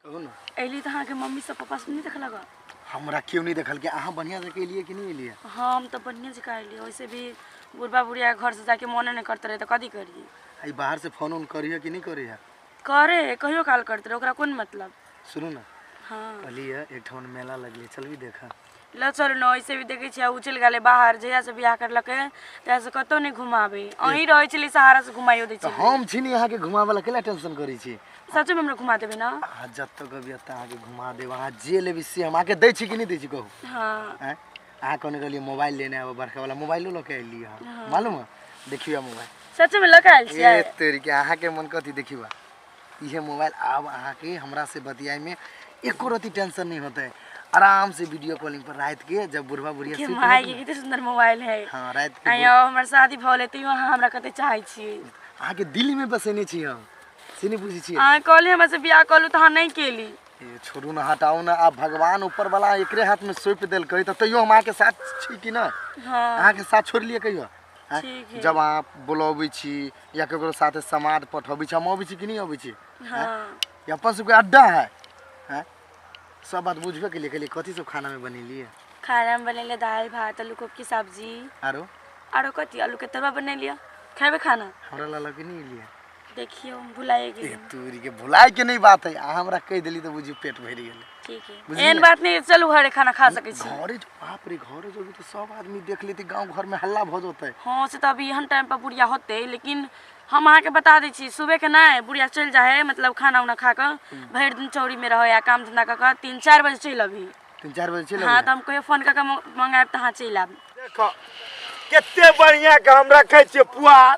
कहू ने अयली तऽ अहाँके मम्मी सब पापा सब नहि देखलक हँ? हमरा केओ नहि देखलकै अहाँ बढ़िआँ जकाँ एलियै कि नहि एलियै हाँ हम तऽ बढ़िया जकाँ अयली वैसे भी बुढ़बा बुढ़िया घर से जाके मोने नहीं करते रहे तो कथी करिए एहि बाहरसँ फोन उन करिए कि नहि करिए करे है कहियो काल करते रहे ओकरा कोन मतलब सुनू ने हाँ कहलियै एकठाम मेला लगलै चलबी देखऽ लचर न ऐसे भी देखे छियै उ चल गेले बाहर जहिया से बियाह करलके तहिया से कतौ नहीं घुमाबे अहीं रहे छली सहारा से घुमाइयो दे तो छी हम छी यहाँ के घुमा वाला केला टेंशन करी छी सच में हमरा घुमा देबे ना आ जब तक अभी एतऽ अहाँके घुमा देब अहाँ जे लेबै से हम अहाँके दै छी कि नहि दै छी कहू हां आँय? अहाँ कहने रहलियै मोबाइल लेने आबऽ बड़का वाला मोबाइलो लऽ के अयली हँ मालूम है देखियो मोबाइल सच में लकायल छियै ए तोरी के अहाँके मन कथी देखियो इहे मोबाइल आब अहाँ के हमरा से बतियाए में एको रति टेंशन नहीं होते आराम से वीडियो कॉलिंग पर रात के जब बुढ़वा बुढ़िया के सुत माय के कितने सुंदर मोबाइल है हां रात के आयो हमर शादी भले तैयो अहाँ हमरा कते चाहै छी अहाँ के दिल में बसेने छी हम से नहीं बुझी छी अहाँ कहले हमरा से बियाह कहलु त अहाँ नहीं केली ए, छोड़ू ना हटाओ ना आप भगवान ऊपर वाला एकरे हाथ में सौंप देल कही तो तैयो हम अहाँ के साथ छी कि ना हां अहाँ के साथ छोड़ लिए कहियो हाँ? ठीक है। जब अहाँ बुलाबै छी या केकरो साथे समाद पठबै छी हम अबै छी कि नहीं अबै छी हाँ ये अपन सबके अड्डा है हैं सब बात बुझबे के लिए के लिए कथी सब खाना में बनेलिए खाना में बनेले दाल भात आलू कोब की सब्जी आरो आरो कथी आलू के तरुआ बनेलिए खेबे खाना हमरा ला लगे नहीं लिए देखियो हम भुलाए ए गेली तूरी के भुलाए के नहीं बात है आ हमरा कह देली तो बुझी पेट भर गेल ठीक है बुझलियै? एहन बात नहीं चलू घरे खाना खा सके छी घरे जो- बाप रे घरे जो भी तो सब आदमी देख लेते गांव घर में हल्ला भ जतै हाँ से तो अभी एहन टाइम पर बुढ़िया होते लेकिन हम अहाँके बता दै छी सुबह के नहि बुढ़िया चलि जाइ है मतलब खाना उना खा कऽ भरि दिन चौरी में रहै आ काम धंधा कऽ कऽ तीन चारि बजे चलि अबही तीन चार बजे चलि हाँ अबै तऽ हम कहियो फोन कऽ कऽ मंगायब तऽ अहाँ चलि आयब देखो कते बढ़िया के हम रखे छिए पुआर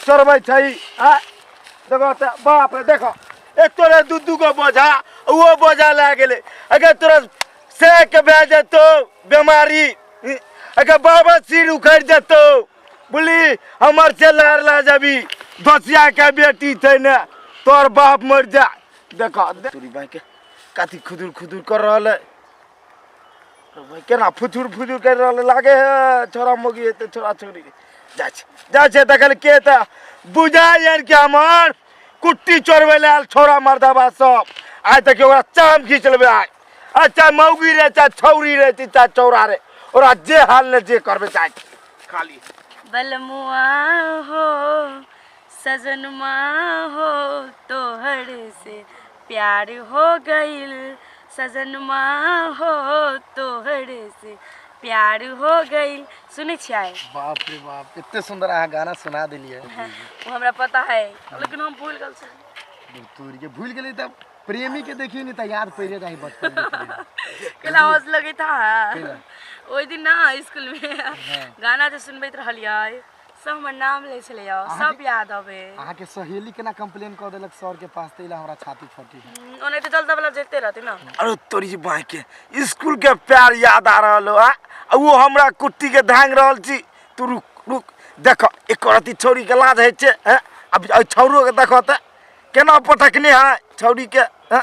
चढ़बै छै आ देखो तऽ बाप रे देखो एक तोरे दू दू गो बोझा ओहो बोझा लए गेलै अगर तोरा सएके भए जेतौ बेमारी अगर बाबा सिर उखड़ि जेतौ बोली हमर से लहर लए जेबी दोसियाके बेटी छै ने तोर बाप मरि जा देखो दे- तोरी बाँके कथी खुदुर खुदुर कर रहल है केना फुथुर फुथुर करि रहल लागे है छोरा मोगी है तो छोरा छोरी जा छै जा छै देखल के तऽ बुझा यार के हमर कुट्टी चोरबै लए आयल छोरा मर्दाबा सब आइ तक ओकरा चाम खींच लेबै आइ आ चाहे मौगी रहे चाहे छौरी रहे ती चाहे चौरा रहे ओकरा जे हाल ने जे करबै चाहे खाली बलमुआ हो सजनमा हो तोहर से प्यार हो गइल सजनमा हो तोहर से प्यार हो गई सुनै छियै बाप रे बाप एते सुंदर अहाँ गाना सुना देलियै वो हमरा पता है लेकिन हम भूल गल छी तोरी के भूल गेली तब प्रेमी के देखिए नहीं त याद पड़े रही बचपन के प्रेम। केला हौस लगे था केला? ओहि दिन ना स्कूल में गाना जे सुनबैत रहलियै सब हमर नाम ले छले यो अहाँ सब के- याद अबे अहाँ के सहेली केना कंप्लेन कऽ देलक सर के पास तैला हमरा छाती फटी हम्म, ओने तो जल्दा वाला जेते रहते ना अरे तोरी जी बाँह के स्कूल के प्यार याद आ रहल हो आ आ वो हमरा कुट्टी के धांग रहल छी तू रुक रुक देख एक रति छौरी के लाज होइ छै हैं? अब अब छौरो के देख तऽ केना पटकने है छौरी के हैं?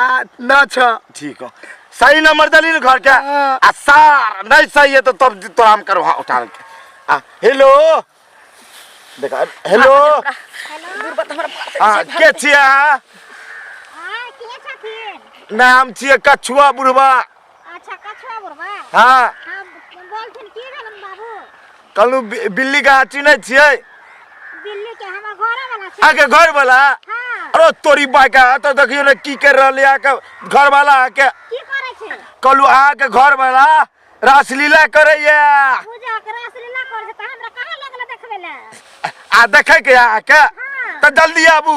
आ ना छ ठीक हो सही नंबर दली न घर के हाँ। आ सार नहीं सही है तो तब तो हम करो हाँ उठा के आ हेलो देखा हेलो हाँ के छिया हाँ, के छथिन? नाम छिए कछुआ बुढ़वा अच्छा कछुआ बुढ़वा हाँ हम बोलथिन की भेलन बाबू कहलू बिल्ली का चिन्है छियै बिल्ली के हमर घरे वाला छै आके घर वाला हाँ अरे तोरी बाका तो देखियो ने की कर रहले आके घर वाला आके की करे छै कहलू आके घर वाला रासलीला करैया पूजा के रासलीला करे छै त हमरा कहाँ लगले देखबे ले आ देखे के आके हाँ त जल्दी आबू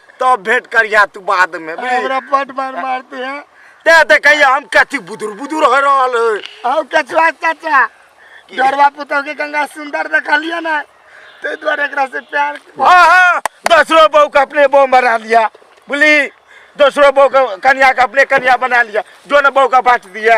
तब भेंट करिया तू बाद में बुझली हमरा पट मार मारते हैं ते देखैया हम कथी बुदुर बुदुर हो रहल है औ कचवा चाचा डरवा पुतौ के गंगा सुंदर देखलिए ना ते द्वारा एकरा से प्यार हाँ हाँ दूसरो बहू के अपने बहू बना लिया बुझली दूसरो बहू के कन्या के अपने कन्या बना लिया दोनों बहू का बांट दिया